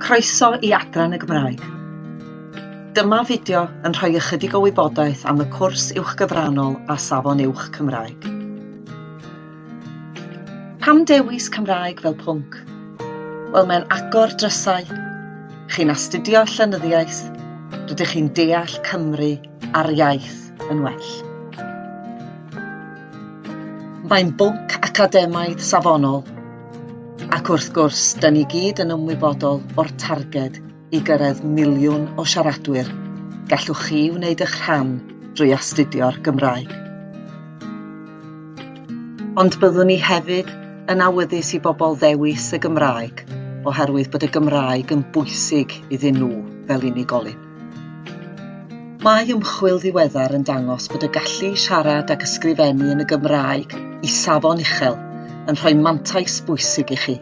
Croeso i Adran y Gymraeg. Dyma fideo yn rhoi ychydig o wybodaeth am y cwrs uwchgyfranol a Safon Uwch Cymraeg. Pam dewis Cymraeg fel pwnc? Wel mae'n agor drysau. Chi'n astudio llenyddiaeth, rydych chi'n deall Cymru a'r iaith yn well. Mae'n bwnc academaidd safonol Ac wrth gwrs, da ni gyd yn ymwybodol o'r targed i gyrraedd miliwn o siaradwyr. Gallwch chi wneud eich rhan drwy astudio'r Gymraeg. Ond byddwn ni hefyd yn awyddus i bobl ddewis y Gymraeg oherwydd bod y Gymraeg yn bwysig iddyn nhw fel unigolyn. Mae ymchwil ddiweddar yn dangos bod y gallu i siarad ac ysgrifennu yn y Gymraeg i safon uchel yn rhoi mantais bwysig i chi,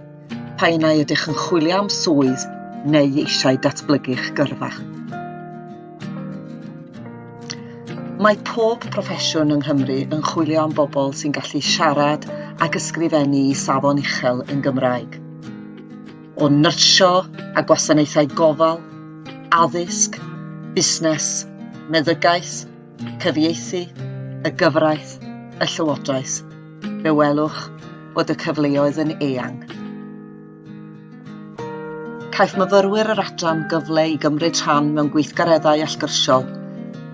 pa un ai ydych yn chwilio am swydd neu eisiau datblygu'ch gyrfa. Mae pob proffesiwn yng Nghymru yn chwilio am bobl sy'n gallu siarad ac ysgrifennu i safon uchel yn Gymraeg. o nyrsio a gwasanaethau gofal, addysg, busnes, meddygaeth, cyfieithu, y gyfraith, y llywodraeth, fe welwch fod y cyfleoedd yn eang. Caiff myfyrwyr yr adran gyfle i gymryd rhan mewn gweithgareddau allgyrsiol,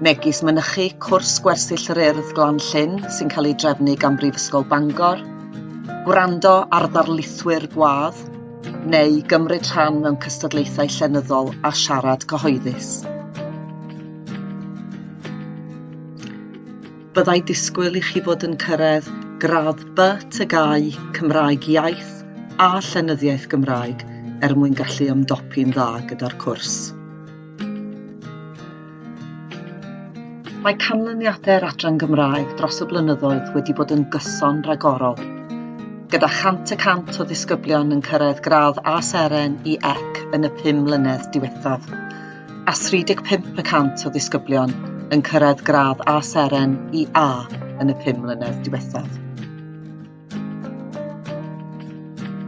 megis mynychu cwrs gwersyll yr urdd Glan Llyn sy'n cael ei drefnu gan Brifysgol Bangor, gwrando ar ddarlithwyr gwadd, neu gymryd rhan mewn cystadlaethau llenyddol a siarad cyhoeddus. Byddai disgwyl i chi fod yn cyrraedd gradd B tygau Cymraeg Iaith a Llenyddiaeth Gymraeg er mwyn gallu ymdopi'n dda gyda'r cwrs. Mae canlyniadau'r adran Gymraeg dros y blynyddoedd wedi bod yn gyson ragorol, gyda 100 y cant o ddisgyblion yn cyrraedd gradd A seren i ec yn y pum mlynedd diwethaf, a 35 y cant o ddisgyblion yn cyrraedd gradd A seren i A yn y pum mlynedd diwethaf.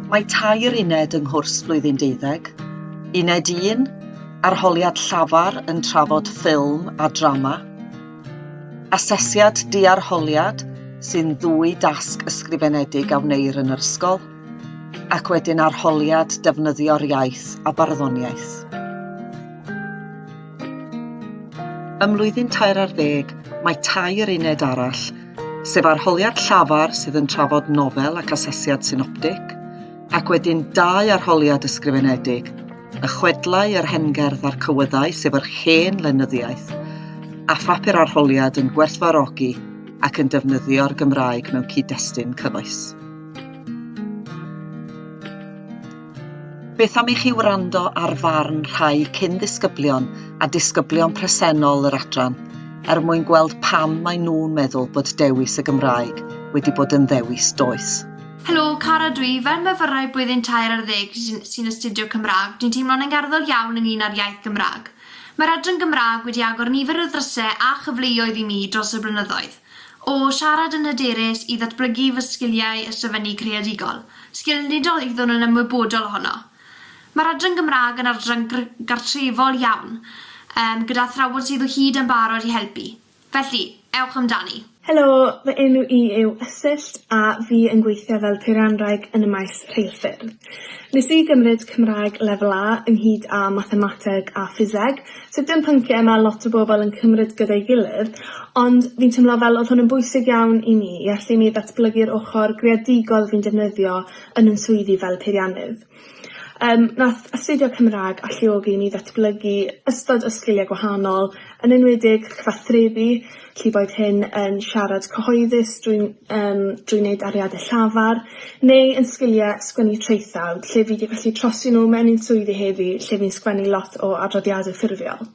Mae tair uned yng nghwrs blwyddyn deuddeg, Uned 1, Arholiad Llafar yn trafod ffilm a drama, Asesiad Diarholiad sy'n ddwy dasg ysgrifenedig a wneir yn yr ysgol, ac wedyn Arholiad Defnyddio'r Iaith a Barddoniaeth. Ym mlwyddyn tair ar ddeg, mae tair uned arall sef arholiad llafar sydd yn trafod nofel ac asesiad synoptig, ac wedyn dau arholiad ysgrifenedig, y chwedlau, yr hengerdd a'r cywyddau, sef yr hen lenyddiaeth, a phapur arholiad yn gwerthfarogi ac yn defnyddio'r Gymraeg mewn cyd-destun cyfoes. Beth am i chi wrando ar farn rhai cyn-ddisgyblion a disgyblion presennol yr adran er mwyn gweld pam maen nhw'n meddwl bod dewis y Gymraeg wedi bod yn ddewis doeth? Helo, Cara dw i. Fel myfyrwraig blwyddyn tair ar ddeg sy'n sy'n astudio Cymraeg, dwi'n teimlo'n angerddol iawn ynglŷn â'r iaith Gymraeg. Mae'r adran Gymraeg wedi agor nifer o ddrysau a chyfleoedd i mi dros y blynyddoedd. O siarad yn hyderus i ddatblygu fy sgiliau ysgrifennu creadigol, sgil nid oeddwn yn ymwybodol ohono. Mae'r adran Gymraeg yn adran gr- gartrefol iawn, yym, gyda athrawon sydd o hyd yn barod i helpu. Felly, ewch amdani. Helo, fy enw i yw Ysyllt a fi yn gweithio fel peirianwraig yn y maes rheilffyrdd. Nes i gymryd Cymraeg Lefel A ynghyd â Mathemateg a Ffiseg, so dim pyncie ma' lot o bobol yn cymryd gyda'i gilydd, ond fi'n timlo fel odd hwn yn bwysig iawn i mi i allu i mi ddatblygu'r ochor greadigol fi'n defnyddio yn 'yn swyddi fel peiriannydd. Yym nath astudio Cymrag alluogi i mi ddatblygu ystod o sgilie gwahanol, yn enwedig cyfathrebu, Felly boed hyn yn siarad cyhoeddus drwy yym drwy wneud ariadne llafar neu yn sgilie sgwennu traethawd lle fi 'di gallu trosi nhw mewn i'n swyddi heddi lle fi'n sgwennu lot o adroddiade ffurfiol.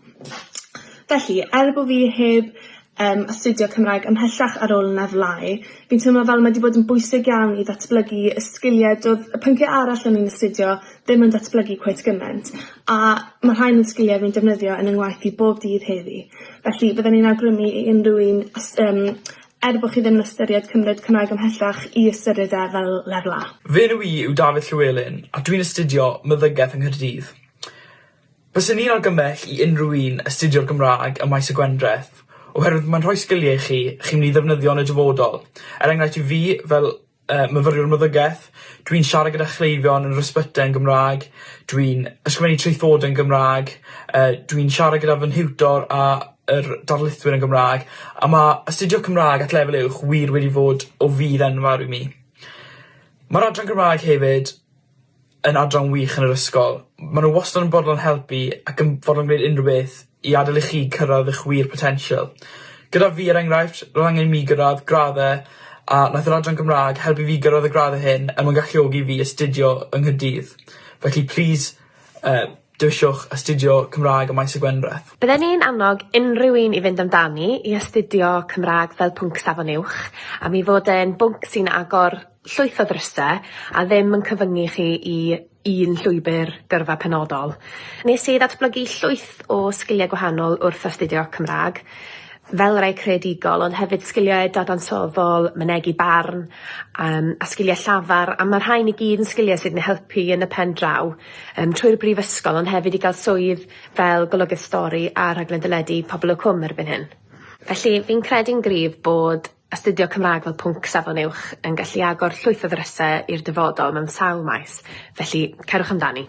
Felly, er bo' fi heb yym astudio Cymraeg ymhellach ar ôl yn efelyf, fi'n teimlo fel mae 'di bod yn bwysig iawn i ddatblygu y sgilie do'dd y pyncie arall o'n i'n astudio ddim yn datblygu cweit gyment, a ma' rhain yn sgilie rwy'n defnyddio yn 'y ngwaith i bob dydd heddi. Felly, fydden i'n awgrymu i unrhyw un os yym er bo' chi ddim yn ystyried cymryd Cymraeg ymhellach i ystyried e fel lefel A. Fy enw i yw Dafydd Llywelyn a dwi'n astudio Meddygaeth yng Nghaerdydd. Byswn i'n argymell i unrhyw un astudio'r Gymraeg ym Maes y Gwendraeth oherwydd mae'n rhoi sgilie i chi chi'n myn' i ddefnyddio yn y dyfodol, er enghraifft i fi fel yy myfyriwr meddygeth dwi'n siarad gyda chleifion yn yr ysbytai yn Gymra'g dwi'n ysgrifennu traethodau yn Gymra'g yy dwi'n siarad gyda fy nhiwtor a yr darlithwyr yn Gymra'g a ma' astudio Cymra'g at lefel uwch wir wedi fod o fudd enfawr i mi. Ma'r adran Gymra'g hefyd yn adran wych yn yr ysgol. Ma' n'w wastod yn bodlon helpu ac yn fodlon gwneud unryw beth i adel i chi cyrradd 'ych wir potensial. Gyda fi er enghraifft ro'dd angen i mi gyrradd gradd-e a nath yr adran Gymra'g helpu fi gyrradd y gradd-e hyn er mwyn galluogi fi astudio yng Nghaerdydd. Felly plîs yy Dewiswch astudio Cymraeg ym Maes y Gwendraeth. Bydden i'n annog unrhyw un i fynd amdani i astudio Cymraeg fel pwnc Safon Uwch am ei fod e'n bwnc sy'n agor llwyth o ddryse a ddim yn cyfyngu chi i un llwybr gyrfa penodol. Nes i ddatblygu llwyth o sgiliau gwahanol wrth astudio Cymraeg, fel rai creadigol ond hefyd sgiliau dadansoddol, mynegi barn yym a sgiliau llafar a ma' rhain i gyd yn sgiliau sydd yn helpu yn y pen draw. Yym, trwy'r brifysgol ond hefyd i gael swydd fel golygydd stori a rhaglen deledu Pobol y Cwm erbyn hyn. Felly, fi'n credu'n gryf bod astudio Cymraeg fel pwnc safon uwch yn gallu agor llwyth o ddryse i'r dyfodol mewn sawl maes, felly cerwch amdani.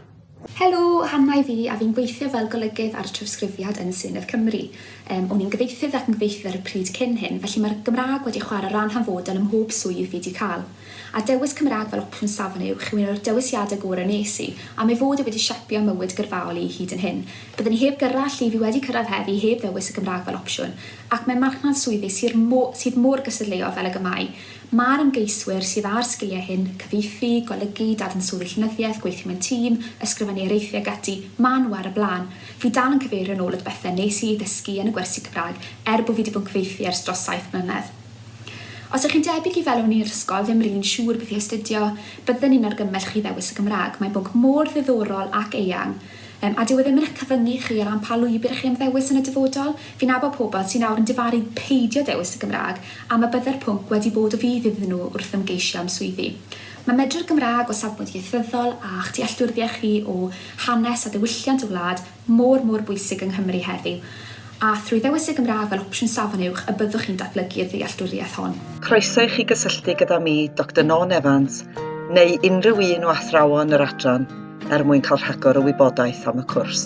Helo, Hanna i fi a fi'n gweithio fel golygydd ar trawsgrifiad yn Senedd Cymru. Yym, o'n i'n gyfieithydd ac yn gyfieithydd ar y pryd cyn hyn, felly mae'r Gymraeg wedi chwarae ran hanfodol ym mhob swydd fi 'di cael. a dewis Cymraeg fel opsiwn safon uwch yw un o'r dewisiadau gorau wnes i, am ei fod e wedi siapio mywyd gyrfaol i hyd yn hyn. Byddwn i heb gyrra lle fi wedi cyrraedd heddi heb ddewis y Gymraeg fel opsiwn, ac mewn marchnad swyddi syr mo- sydd mor gystadleuol fel ag y mae, mae'r ymgeiswyr sydd â'r sgiliau hyn, cyfieithu, golygu, dadansoddi llenyddiaeth, gweithio mewn tîm, ysgrifennu areithiau ac ati, maen nhw ar y blaen. Fi dal yn cyfeirio nôl at bethau wnes i eu dysgu yn y gwersi Cymraeg, er bo fi wedi bod yn cyfieithu ers dros saith mlynedd. Os ych chi'n debyg i fel o'n i'r ysgol ddim r'un siŵr beth i astudio, bydden i'n argymell chi ddewis y Gymraeg, mae'n bwnc mor ddiddorol ac eang, yym, a dyw e ddim yn eich cyfyngu chi o ran pa lwybr chi am ddewis yn y dyfodol, fi'n nabod pobl sy nawr yn difaru peidio dewis y Gymraeg am y bydde'r pwnc wedi bod o fudd iddyn nhw wrth ymgeisio am swyddi. Mae medru'r Gymraeg o safbwynt ieithyddol a'ch dealltwriaeth chi o hanes a diwylliant y wlad, mor, mor bwysig yng Nghymru heddiw, a thrwy ddewis y Gymraeg fel opsiwn Safon Uwch y byddwch chi'n datblygu'r ddealltwriaeth hon. Croeso i chi gysylltu gyda mi, Doctor Nawn Evans, neu unrhyw un o athrawon yr adran er mwyn cael rhagor o wybodaeth am y cwrs.